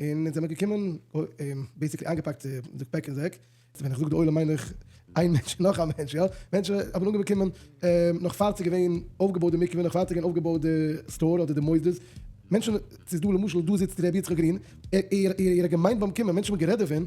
און אונז זעמיר געקומען און בעיסיקלי איינגעפאקט די פעק און זעק, ווען איך זאג די עולם מיין איך איין מענטש און נאך א מענטש יא, מענטשן האבן אנגעבעקומען נאך פאר ס'איז געווען אויפגעבויט די מקווה, נאך פאר ס'איז געווען אויפגעבויט די סטאר אדער די מוסדות, מענטשן, ס'איז דא למשל דא זיצט ר' יצחק גרין, ער ער ער האט געמיינט ביים קומען, מענטשן האבן גערעדט דערפון,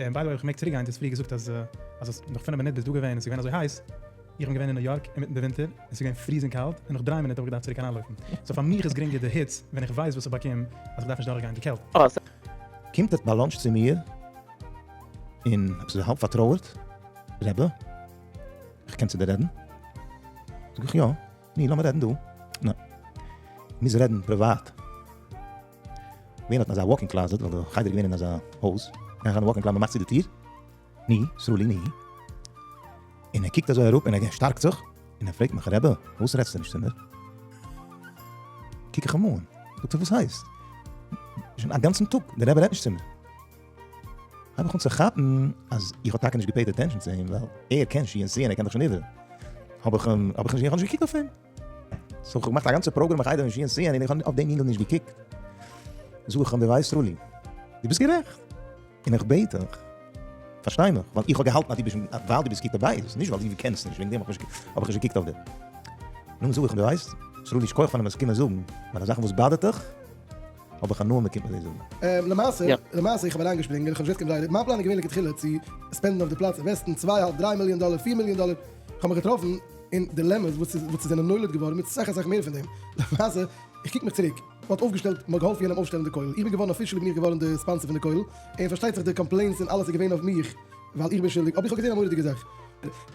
און ביי די וועי אויב איך מעג צוריק גיין, דו האסט פריער געזאגט אז אז האסט נאך פינף מינוט ביסט דא געווען און ס'איז געווען אזוי הייס, איך בין געווען אין ניו יארק אינמיטן די ווינטער און ס'איז געווען פריזינג קאלט און נאך דריי מינוט האב איך געדארפט צוריק אריינלויפן, סאו פאר מיך איז גרינגער די היץ ווען איך ווייס וואס איך באקום אז איך דארף נישט דורכגיין די קעלט. קומט עטס ביי לאנטש צו מיר און עפעס א האלב פארטרויערט, רעבע, איך קען צו דיר רעדן? זאג איך יא. ני, לאמיר רעדן דא. נע. מוז רעדן פריוואט. געווען האט מען אזא וואקינג קלאזעט ווייל די חדר איז געווען אין אזא הויז. גייען אריין וואקינג קלאזעט מען מאכט צו די טיר. ני, סרולי ני. און ער קוקט אזוי אראפ און ער שטארקט זיך און ער פרעגט מיך רעבע וואס רעדסטו נישט צו מיר? קוק איך אים אן. זאגט ער וואס הייסט? שוין א גאנצן טאג די רעבע רעדט נישט צו מיר. הייב איך אן צו כאפן אז איך האב טאקע נישט געפעיד אטענשאן צו אים ווייל ער קען שיעור סיען ער קען דאך שוין איבער האב איך אים האב איך נישט געקוקט אויף אים סאו איך האב געמאכט א גאנצע פראגרעם איך הייב אים שיעור סיען און איך האב אויף דעם יונגל נישט געקוקט זאג איך אים די ווייסט רולי די ביסט גערעכט און איך בעט דיך פארשטיי מיך ווייל איך האב געהאלטן אז די ביסט ווייל די ביסט גוט בבית נישט ווייל די קענסט נישט וועגן דעם האב איך נישט געקוקט אויף דיר נו זאג איך אים די ווייסט רולי שכוח פארן עס קומען זאגן ווייל די זאכן וואס באדערט דיך האב איך הנאה מ'קומט מיט די זאגן. למעשה, למעשה איך האב אריינגעשפרינגען, איך האב נישט געוואוסט קיין דזשעי-לי, מיין פלאן איז געווען לכתחילה צו ספענדן אויף די פלאץ אינוועסטן צוויי האלב דריי מיליאן דאלער פיר מיליאן דאלער, איך האב מיך געטראפן אין דילעמעס וואס וואס ס'זענען נולד געווארן מיט אסאך אסאך מער פון דעם, למעשה איך קוק מיך צוריק, מ'האט אויפגעשטעלט, מ'האט געהאלפן יענעם אויפשטעלן די כולל, איך בין געווארן אפישעלי בין איך געווארן די ספאנסער פון די כולל, און פארשטייט זיך די קאמפלעינס און אלעס איז געווען אויף מיך ווייל איך בין שולדיג, אבער איך האב געזען א מורא'דיגע זאך,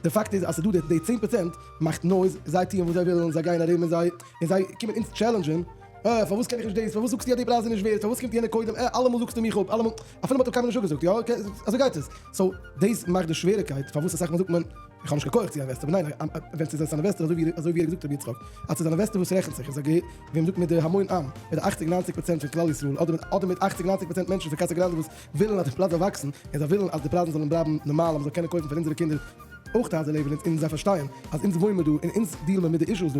די פאקט איז אז ס'איז דא די צען פראצענט מאכט נויז, זיי טוען וואס זיי ווילן, זיי גייען ארום און זיי און זיי קומען אונז טשעלענדזשען, אה, פארוואס קען איך נישט דאס? פארוואס זאגסטו אז די פרייז איז נישט ווערט? פארוואס קומט יענער קודם? אה, אלעמאל זאגסטו מיך אפ, אלעמאל, אפילו מ'האט דיר קיינמאל נישט אפגעזאגט, יא, אקעי, אזוי גייט עס. סאו, דאס מאכט די שוועריקייט פארוואס אסאך מאל זאגט מען, איך האב נישט קיין כח צו אינוועסטען, ניין, ווען ס'איז עס אן אינוועסטער, אזוי ווי אזוי ווי ער האט געזאגט ר' יצחק, אז ס'איז אן אינוועסטער וואס רעכנט זיך, איז א געהער, ווי מ'זאגט מיט די המון עם, מיט די אכציג ניינציג פראצענט פון כלל ישראל, אדער מיט אדער מיט אכציג ניינציג פראצענט מענטשן פון קאסא גראנדע וואס ווילן אז די פלאץ זאל וואקסן, און זיי ווילן אז די פרייזן זאלן בלייבן נארמאל אז מ'זאל קענען קויפן פאר אונזערע קינדער אויך די הייזער לעבן אונז, און זיי פארשטייען אז אונז וואוינען דא און אונז דיעל מיר מיט די אישוס דא.